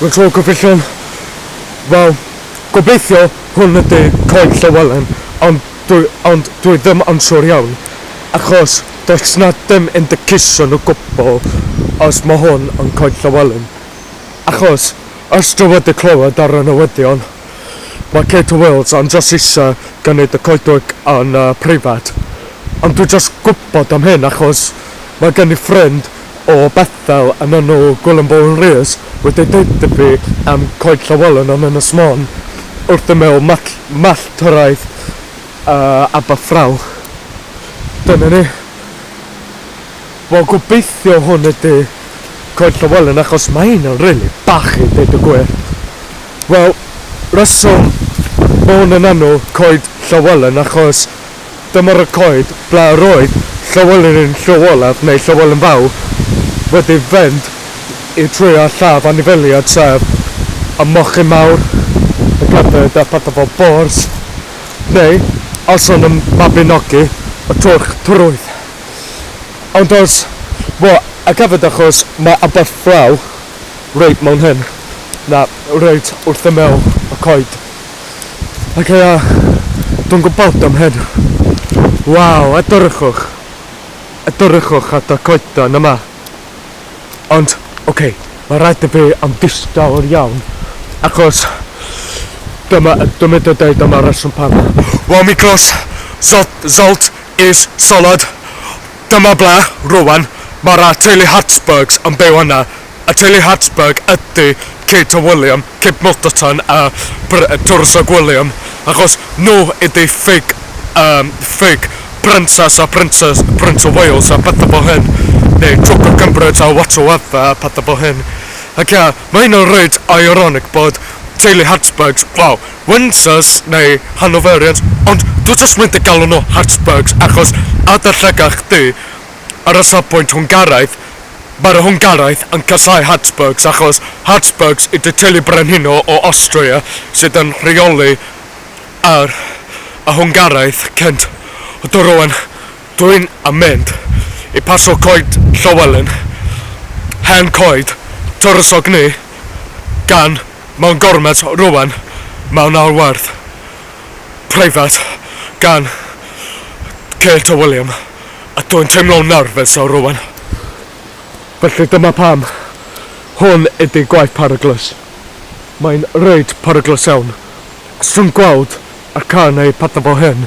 Mae'n tro cyffesion. Wel, gobeithio hwn ydi coed Llywelyn ond dwi ond dwi ddim yn siŵr iawn achos does 'na dim indication o gwbl os ma' hwn yn coed Llywelyn achos os dwi wedi clywed ar y newyddion Mae Kate Wills yn jyst eisiau gwneud y coedwig yn preifat. Ond dwi jyst gwybod am hyn achos mae gen i ffrind o Bethel yn enw Gwilym Bowen Rees wedi deud i fi am Coed Llywelyn yn Ynys Môn wrth ymyl Malltwraeth Aberffraw. Dyna ni. Wel gobeithio hwn ydi Coed Llywelyn achos mae hyn yn rili bach i deud y gwir. Wel reswm ma' hwn yn enw Coed Llywelyn achos dyma'r y coed ble yr oedd Llywelyn Llyw-olaf neu Llywelyn Fawr wedi fynd i trwy a lladd anifeiliaid sef y mochyn mawr, y gledyd a pethau fel bors neu os o'n nhw'n mabinogi y twrch trwyth. Ond os fo a gafod achos mae ambell fraw reit mewn hyn, na, reit wrth ymyl y coed. Ac ia, dwi'n gwybod am hyn. Waw, edrychwch! Edrychwch at y coeden yma. Ond, ok, mae rhaid i fi am ddistaw iawn, achos dyma, dwi'n mynd i dweud dyma reswm pam. Waw, mi glos Zot, Zolt, Is salad. Dyma ble, rwan, mae'r A Teulu Hartsburgs yn byw yna. Y teulu Hartsburg ydy Kate a William, Kate Milderton a Br- Tywysog William, achos nhw ydy ffug, yym, ffug Princess a Princes, Prince of Wales a pethau fel hyn, neu Twp of Cambridge a whatsoever a pethau fel hyn. Ac ia, mae hyn yn reit ironic bod teulu Hartsburgs, wel, Windsors neu Hanoverians ond dwi jyst mynd i galw nhw Habsburgs achos adar llygad chdi ar y safbwynt Hwngaraidd, mae'r Hwngaraidd yn casáu Habsburgs achos Habsburgs ydi teulu brenhino o Awstria sydd yn rheoli ar y Hwngaraidd cynt do rwan dwi'n yn mynd i pasio coed Llywelyn hen coed tywysog ni gan Mewn gormes rwan mewn arwerth preifat gan Kate a William a dwi'n teimlo'n nerfus o rwan. Felly dyma pam hwn ydi gwaith peryglus. Mae'n reit peryglus iawn. Os ti'n gweld y cân neu petha fel hyn,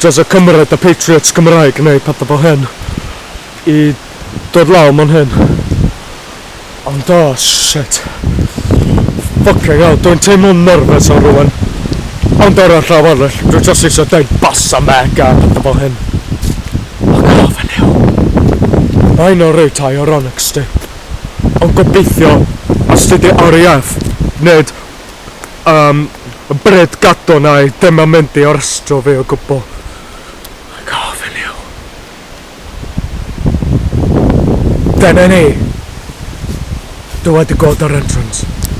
Tasa Cymru da Patriots Cymraeg neu petha fel hyn i dod lawr man hyn. Ond o shit. Ffycin hell dwi'n teimlo'n nyrfys ar rwan. Ond ar y llaw arall dwi jyst isio deud basa mega a petha fel hyn. Ac yr ofn yw. Mae hynna reit ironic sdi. Ond gobeithio os ti di RAF nid Yym, Bryd Gaddo nai ddim yn mynd i arestio fi o gwbl. Mae'n gofyn i yw. Dyna ni. Dwi wedi gweld yr entrance.